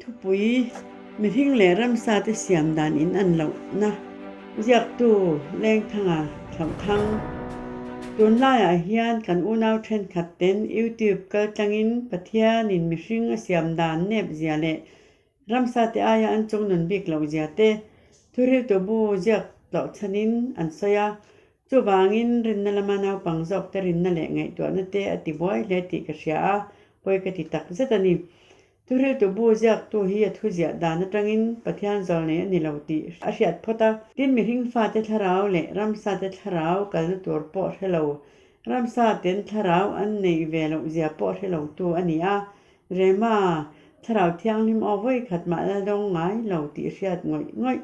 Thupui, Mihring leh ramsate siam dan in an lohna ziaktu Lengthanga Thlauthang, tun laiah hian kan unau thenkhatten YouTube kaltlangin Pathianin mihring a siam dan nepzia leh Ramsa te aia an chung nun bik lo zia te thuhriltu bu ziak tlawh chhanin an sawi a, chuvangin rinna lama naupang zawk te rinna leh ngaihtuahna te a ti buai hle tih ka hria a, pawi ka ti tak zet a ni. Thuhriltu bu ziaktu hi a thu ziah dan atangin Pathian zawlh nei a ni lo tih a hriat phawt a, tin mihring fate thlarau leh ramsa te thlarau kalna tur pawh hre lo, ramsa ten thlarau an neih ve loh zia pawh hre lo tu a ni a, Rema, Thlarau Thianghlim aw vawi khat mah la dawng ngai lo tih hriat ngawih ngawih.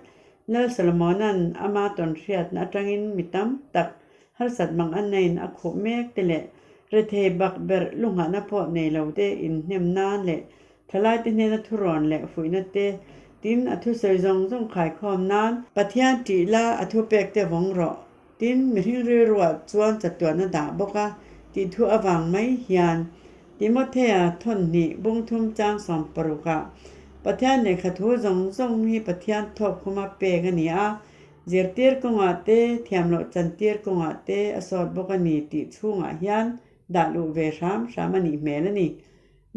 Lal Solomona'n ama tawn hriatna atangin mi tam tak harsat mang a nain a khuh mek te leh rethei bak berh lu nghahna pawh nei lo te inhnem nan leh thalaite hnena thurawn leh fuihna te tin a thusawi zawng zawng khai khawm nan Pathian tih la a thupek te vawng rawh. Tin, mihring rilruah chuan chatuahna dah bawk a, tih thu a vang mai hian Timothea thawnnhnih bungthum changsawm parukah, Pathian lehkha thu zawng zawng hi Pathian thawkkhuma pek a ni a, zirtir kawngah te, thiamloh chantir kawngah te a sawt bawk a ni tih chhungah hian dahluh ve hram hram a nih hmel a ni.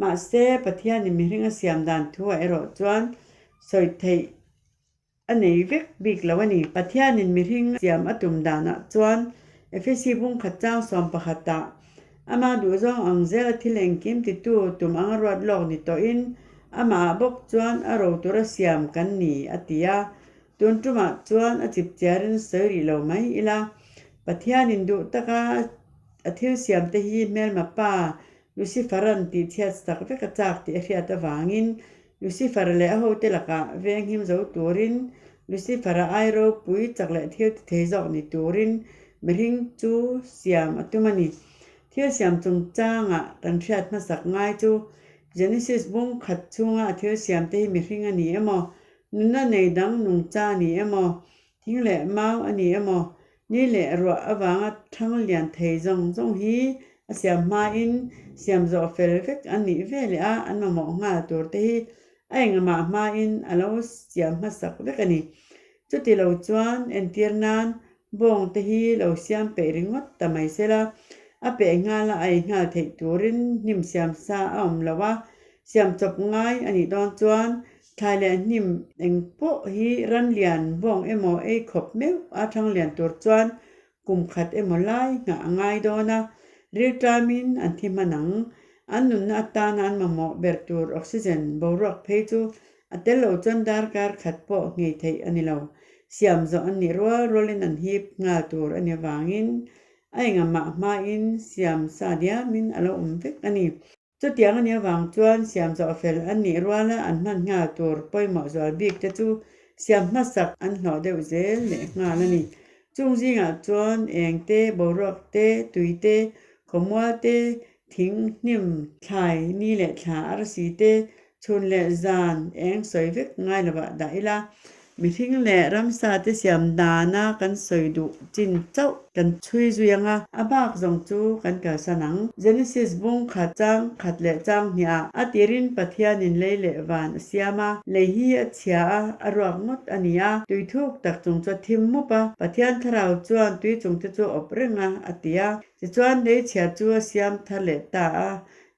Mahse, Pathianin mihring a siam dan thu a erawh chuan sawi theih A nei vek bik lo a ni. Pathianin mihring siam a tum danah chuan Efesi bung khat chang sawm pakhatah Ama duhzawng ang zela thil engkimtitu tum anga ruat lawk ni tawhin Amah bawk chuan a rotura siam kan ni a ti a. Tun tumah chuan a chipchia rinsawi rih lo mai ila. Pathianin duh taka a thil siamte hi Hmelma pa Lucifer-a'n tihchhiat sak vek a chak tih a hriat avangin Lucifer leh a hote lakah veng him zo turin, Lucifer-a ai ropui chak leh thil ti thei zawk ni turin mihring chu siam a tum a ni. Thil siam chungchanga kan hriat hmasak ngai chu, Genesis bung khat chhunga thil siamte hi mihring a ni emaw, nuna nei dang nungcha a ni emaw, Thing leh mau a ni emaw, ni leh ruah avanga thang lian thei zawng zawng hi a siam hmain siam zawh fel vek an nih ve leh a, an mamawh nghal tur te hi a engmah hmain a lo siam hmasak vek a ni. Chuti lo chuan entir nan bawng te hi lo siam peih ringawt ta mai se la, a peh nghal a ei nghal theih turin hnim siam sa a awm lo a, siam chawp ngai a nih dawn chuan Thlai leh hnim eng pawh hi ran lian bawng emaw ei khawp meuh a thang lian tur chuan kum khat emaw lai nghah a ngai dawn a, ril tlamin an thi hman ang. An nunna atana an mamawh ber tur oxygen boruak phei chu a tel lo chuan darkar khat pawh ngei theih a ni lo. Siam zawh an nih rual rualin an hip nghal tur a ni avangin a engah mah hmain siam sa diamin a lo awm vek a ni. Chutiang anih avang chuan siam zawh fel an nih rual a, an hman nghal tur pawimawh zual bik te chu siam hmasak an hlawh deuh zel leh nghal a ni. Chung zingah chuan eng te, boruak te, tui te, khawmual te, thing hnim, thlai ni leh thla arsi te, Chhun leh zan eng sawi vek ngai lovah dah ila, mihring leh ramsa te siam dana kan sawi duh chin chauh. Kan chhui zui anga a bak zawng chu kan kalsan ang. Genesis bung khat chang khat leh chang hnih ah a tirin Pathianin lei leh van a siam a, lei hi a chhia a, a ruak ngawt a ni a, tui thuk tak chung chu a thim mup a, Pathian Thlarau chuan tui chungte chu a awp reng a, a ti a. Tichuan lei chhia chu a siam thar leh ta a,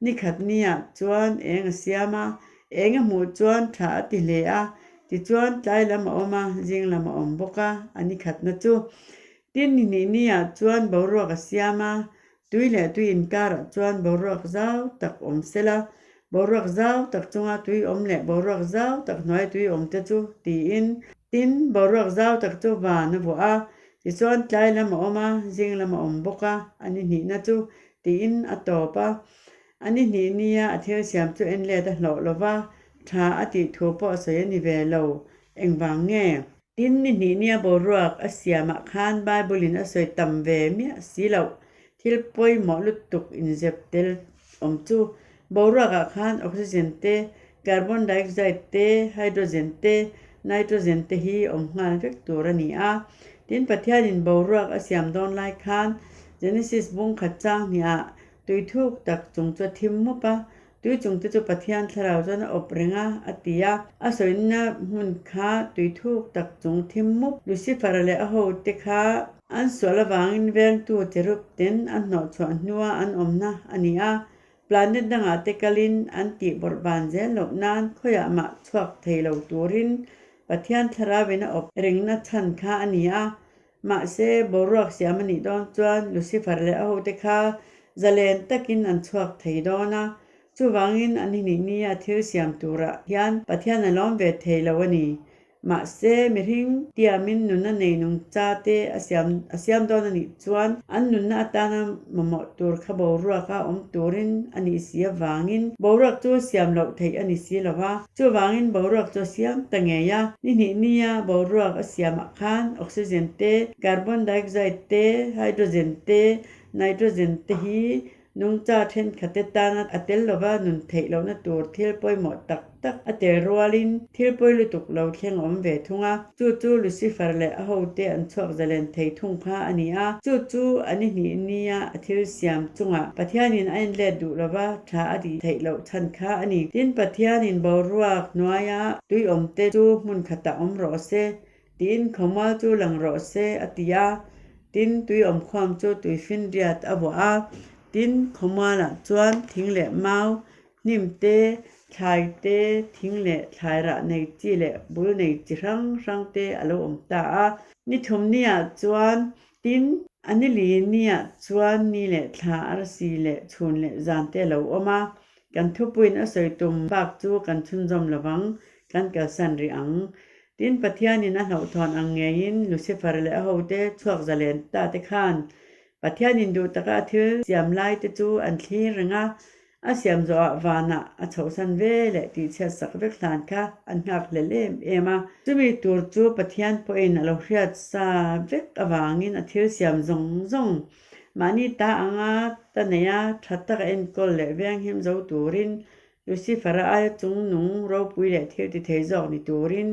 Ni khat ni ah chuan eng a siam a, eng a hmuh chuan tha a ti hle a, tichuan tlai lam a awm a, zing lam a awm bawk a, a ni khatna chu. Tin, ni hnih ni ah chuan boruak a siam a, tui leh tui inkar ah chuan boruak zau tak awm sela, boruak zau tak chunga tui awm leh boruak zau tak hnuaia tui awm te chu, tiin. Tin, boruak zau tak chu van a vuah a, tichuan tlai lam a awm a, zing lam a awm bawk a, a ni hnihna chu. Tiin a tawp a, a ni hnih nia a thil siam chu enlet a hlawh lo va, tha a tih thu pawh sawi a ni ve lo, engvang nge? Tin, ni hnih nia boruak a siamah khan Bible-in a sawi tam ve miah si loh, thil pawimawh lutuk inzep tel awm chu Boruakah khan oxygen te, carbon dioxide te, hydrogen te, nitrogen te hi awm nghal vek tur a ni a. Tin, Pathianin boruak a siam dawn lai khan Genesis bung khat changni ah tui thuk tak chung chu a thim mup a, tui chung te chu Pathian thlarau chuan a awp reng a, a ti a. A sawinna hmun kha tui thuk tak chung thim mup. Lucifer leh a hote kha. An sual avangin vengtu Cherub ten an hnawhchhuah hnua an awmna a ni a. Planet dangah te kalin an tih bawrh ban zel loh nan khawiah mah chhuak thei lo turin Pathian thlarau in a awp rengna chhan kha a ni a. Mahse, boruak siam a nih dawn chuan Lucifer leh a hote kha zalen takin an chhuak thei dawn a. Chuvangin an hnihnihnia thil siam turah hian Pathian a lawm ve thei lo a ni. Mahse, mihring tiamin nunna nei nung cha te a siam a siam dawn a nih chuan an nunna atana mamawh tur kha boruak a awm turin a ni si avangin boruak chu siam loh theih a ni si lo a. Chuvangin boruak chu a siam ta ngei a. Ni hnih nia boruak a siamah khan oxygen te, carbon dioxide te, hydrogen te, nitrogen te hi Nungcha thenkhatna tana a tel lova nun theih lohna tur thil pawimawh tak tak a tel rualin thil pawi lutuk lo thleng awm ve thung a, chu chu Lucifer leh a hote an chhuakzalen thei thung kha a ni a, chu chu an i hnih nia a thil siam chungah Pathianin a enlet duh lova tha a tih theih loh chhan kha a ni. Tin, Pathianin boruak hnuaia tuiawmte chu hmunkhatah awm rawh se, Tiin Khawmal chu lang rawh se a ti a, tin Tuiawm Khawm chu Tuifin Riat a vuah a. Tin, Khawmalah chuan thing leh mau, hnim te, thlai te, thing leh thlai rah nei chi leh bul nei chi hrang hrang te a lo awm ta a. Ni thum niah chuan tin, a ni li niah chuan ni leh thla, arsi leh chhun leh zan te a lo awm a. Kan thupuiin a sawi tum bak chu kan chhunzawm lovang, kan kalsan rih ang. Tin, Pathianin a hnauhthuan ang ngeiin Lucifer leh a hote chhuak zalen-ta te khan Pathianin duh taka a thil siam laite chu an thlir reng a, a siam zawhah vanah a chhohsan ve leh tihchhiat sak vek hlan kha an nghak hlel em em a. Chumi tur chu Pathian pawhin a lo hriat sa vek avangin a thil siam zawng zawng mahni ta anga ta neih a, tha taka enkawl leh vianghim zo turin Lucifer a aia chung nung ropui leh thil tithei zawk ni turin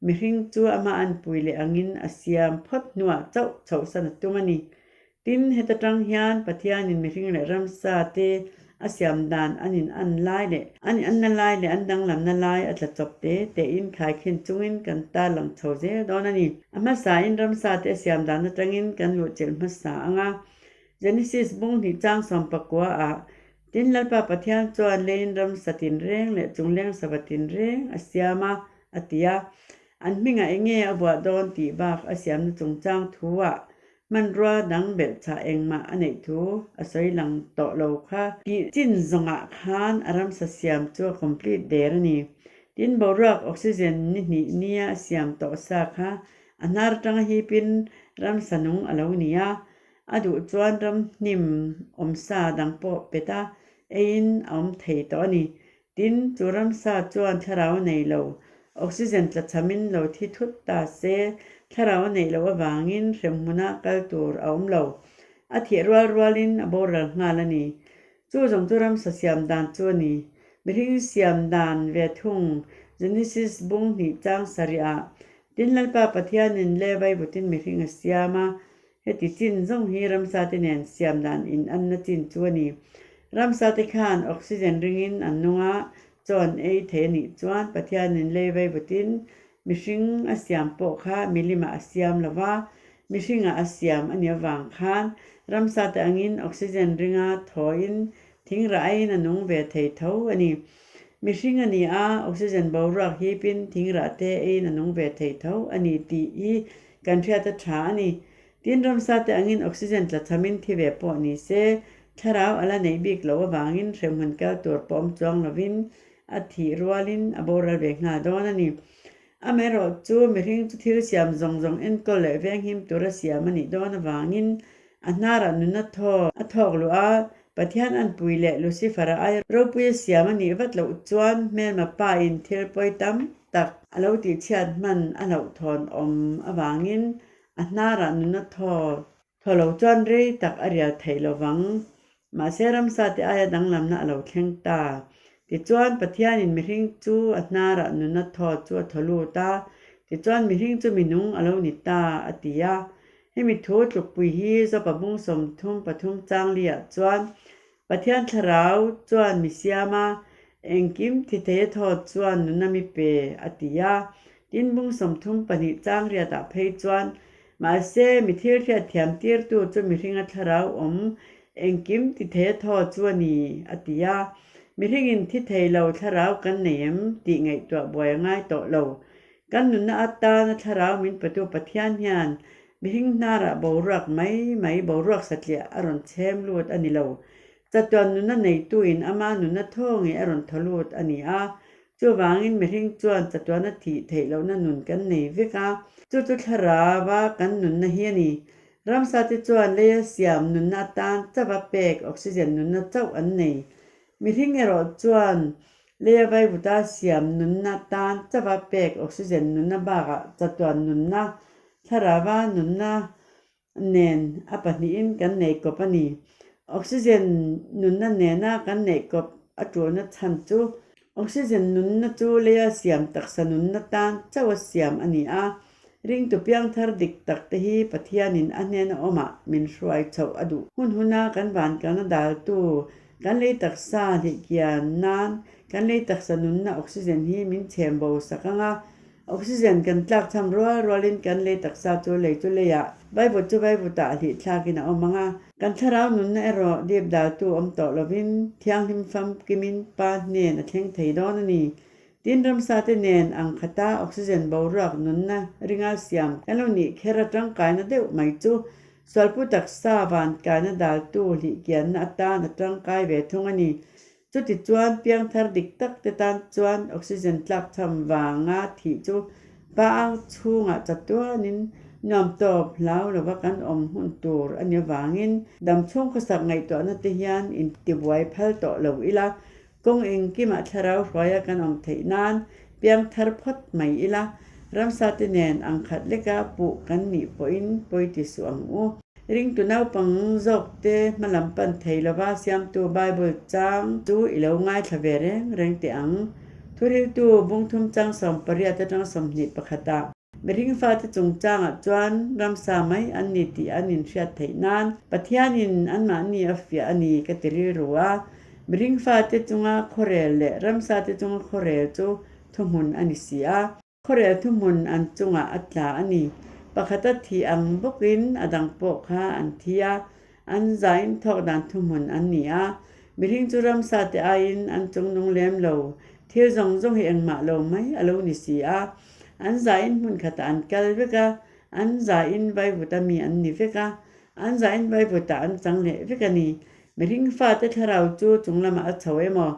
mihring chu amah an pui leh angin a siam phawt hnuah chauh chhoh san a tum a ni. Tin, heta tang hian Pathianin mihring leh ramsa te a siam dan an in-an lai leh an in-anna lai leh an danglamna lai a tla chawp te tein thaikhin chungin kan tar lang chho zel dawn a ni. A hmasain ramsa te a siam dan atangin kan luhchelh hmasa anga. Genesis bunghnih chang sawmpakua ah Tin, Lalpa Pathian chuan leiin ramsa tinreng leh chungleng sava tinreng a siam a, a ti a. An hmingah enge a vuah dawn tih bak a siamna chungchang thu-ah hmanrua dang belhchhah engmah a neih thu a sawi lang tawh lo kha. Tih chin zawngah khan a ramsa siam chu a complete der a ni. Tin, boruak oxygen ni hnih nia a siam tawh sa kha a hnar atanga hipin ramsa nung a lo ni a. A duh chuan ram hnim awm sa dang pawh peta eiin a awm thei tawh a ni. Tin, chu ram sa chuan thlarau nei lo, oxygen tla chhamin lo thi thut ta se, thlarau neih loh avangin hremhmuna kal tur a awm lo. A thiah rual rualin a bawr ral nghal a ni. Chu zawng chu ram sa siam dan chu a ni. Mihring siam dan ve thung Genesis bung hnih chang sarih ah, Tin Lalpa Pathianin Levi vutin mihring a siam a, Heti chin zawng hi ramsate nen siam dan inanna chin chu a ni. Ramsate khan oxygen ringin an nung a, chawn ei thei a nih chuan Pathianin lei vei vutin mihring a siam pawh kha milimah a siam lo va, mihringah a siam a nih avang khan ramsate angin oxygen ringa thawiin thingrah aiin a nung ve thei tho a ni. Mihring a ni a, oxygen boruak hip in thing rah te eiin a nung ve thei tho a ni tih hi kan hriat a tha a ni. Tin, ramsa te angin oxygen tla cham in thi ve pawh ni se, thlarau a la neih bik loh avangin hremhmun kal tur pawm chuang lovin a thih rualin a boral ve nghal dawn a ni. Amaherawhchu chu mihring chu thil siam zawng zawng enkawl leh venghim tur a siam a nih dawn avangin a hnarah nun a thawk a thawk luh a, Pathian a npui leh Lucifer-a ai ropui a siam a nih vat loh chuan Hmelma pain thil pawi tam tak a lo tihchhiat hman a loh thawn awm avangin a hnarah nun a thaw thaw lo chuan rei tak a rial thei lovang Mahse ramsa te aia danglamna a lo thleng ta. Tichuan, Pathianin mihring chu a hnarah nun a thawt chu a thaw lut a, tichuan mihring chu minung a lo ni ta, a ti a. Hemi thu tlukpui hi Zawpabung sawmthum pathum changlia-ah chuan, Pathian thlarau chuan mi siam a, engkim thithei a thawt chuan nun a mi pe, a ti a. Tinbung sawmthum pahnih changlia-ah phei chuan, Mahse, mithil hriatthiam tirtu chu mihringa thlarau awm engkim ti thei a thaw chu a ni, a ti a. Mihringin thi thei lo thlarau kan nei em? tih ngaihtuah buai a ngai tawh lo. Kan nunna atana thlarau min petu Pathian hian mihring hnarah boruak mai mai, boruak satliah a rawn chhem lut a ni lo. Chatuan nunna neitu in ama nunna thaw nge a rawn thaw lut a ni a, Chuvangin mihring chuan chatuahna thih theih lohna nun kan nei vek a, chu chu thlarava kan nunna hi a ni. Ramsate chuan lei a siam nunna atan chauh a pek, oxygen nunna chauh an nei. Mihring erawh chuan lei a vai vuta siam nunna atan chauh a pek, oxygen nunna bakah chatuah nunna, thlarava nunna nen a pahnihin kan neih kawp a ni. Oxygen nunna nena kan neih kawp a tuarna chhan chu oxygen nunna chu leia siam taksa nunna tan chauha siam a ni a. Ringtu piangthar dik tak te hi Pathianin a hnena awmah min hruai chhoh a duh. Hun huna kan vankalna daltu kan lei taksa hlihkian nan kan lei taksa nunna oxygen hi min chhem bo sak ang a. Oxygen kan tlak chham rual rualin kan lei taksa chu lei chu lei a vaivut chu vaivut ah hlih thlakin a awm ang a. Kan thlarau nunna erawh dipdaltu awm tawh lovin thianghlim famkimin Pa hnen a thleng thei dawn a ni. Tin, ramsate nen ang khata oxygen boruak nunna ringa siam kan lo nih kher a tangkaina deuh mai chu sualpu taksa van tlaina daltu hlihkianna atan a tangkai ve thung a ni. Chutichuan piangthar dik tak te tan chuan oxygen tlak chham vanga thih chu pa ang chhungah chatuanin nuam tawp hlau lova kan awm hun tur a ni avangin dam chhung khawsak ngaihtuahna te hian intibuai phal tawh lo ila kawng engkimah thlarau hruaia kan awm theih nan Piang thar phawt mai ila, ramsa te nen ang khat leka puh kan nih pawhin pawi ti suh ang u. Ringtu naupang zawk te hmalam pan thei lova siamtu Bible chang chu i lo ngaithla ve reng reng teh ang. Thuriltu bungthum chang sawmpariat atang sawmhnih pakhatah, Nihin fate chungchangah chuan ramsa mai an ni tih an inhriat theih nan Pathianin anmahni a fiah a ni ka ti rilru a. Nihin fate chunga khawrel leh ramsate chunga khawrel chu thuhmun a ni si a. Khawrel thuhmun an chungah a tla a ni. Pakhata thih ang bawkin a dang pawh kha an thi a, an za in thawk dan thuhmun an ni a. Nihin chu ramsate aiin an chung nung lem lo, thil zawng zawng hi engmah lo mai a lo ni si a. An zah in hmun khatah an kal vek a, an zah in vai vut a mi an ni vek a, an zah in vai vutah an chang leh vek a ni. Mihring fate thlarau chu chung lamah a chho emaw,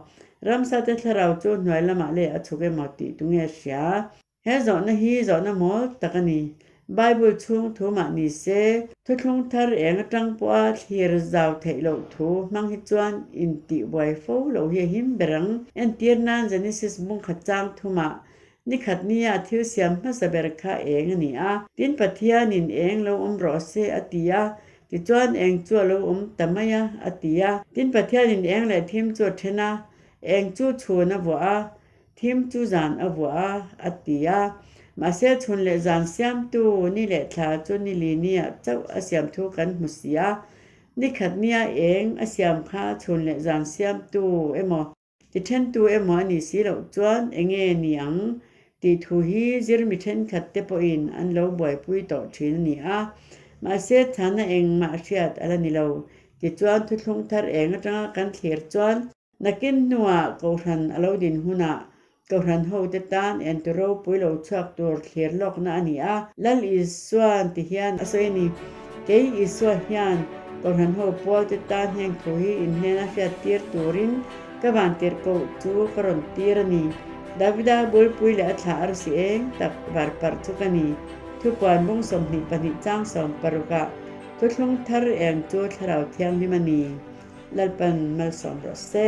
ramsate thlarau chu hnuai lamah leh a chhuk emaw tih tu nge hria? He zawhna hi zawhna mawl tak a ni. Bible chhung thu mah ni se, Thuthlung thar eng atang pawha thlir zau theih loh thu hmang hi chuan intihbuai fo lo hi a him ber ang. Entir nan Genesis bungkhat chang thu mah Ni khat nia thil siam hmasa ber kha eng a ni a, tin Pathianin eng lo awm rawh a se a ti a, tichuan eng chu a lo awm ta mai a, a ti a. Tin Pathianin eng leh thim chu a then a, eng chu chhun a vuah a, thim chu zan a vuah a, a ti a. Mahse, chhun leh zan siamtu ni leh thla chu ni li nia chauh a siam thu kan hmu si a, ni khat nia eng a siam kha chhun leh zan siamtu emaw, Ti thentu emaw a nih si loh chuan eng nge ni ang tih thu hi zirmi thenkhat te pawhin an lo buaipui tawh thin a ni a. Mahse, thana eng mah hriat a la ni lo. Tichuan, thuthlung thar eng atanga kan thlir chuan nakin hnungah kohhran a lo din hunah Tohran hote tan enter ropui lo chhuak tur thlir lawkna a ni a. Lal Isua ti hian a sawi a ni. Kei Isua hian tohran ho pualte tan hengthu hi in hnen a hriat tir turin ka vantirh koh chu ka rawn tir a ni. Davida buaipui leh a thla a rusi eng tak var parh chu ka ni. Thupuan bung sawmhnih pahnih chang sawm parukah thutthlung thar eng chu Thlarau Thianghlim a ni. Lalpan malsawm rawh se.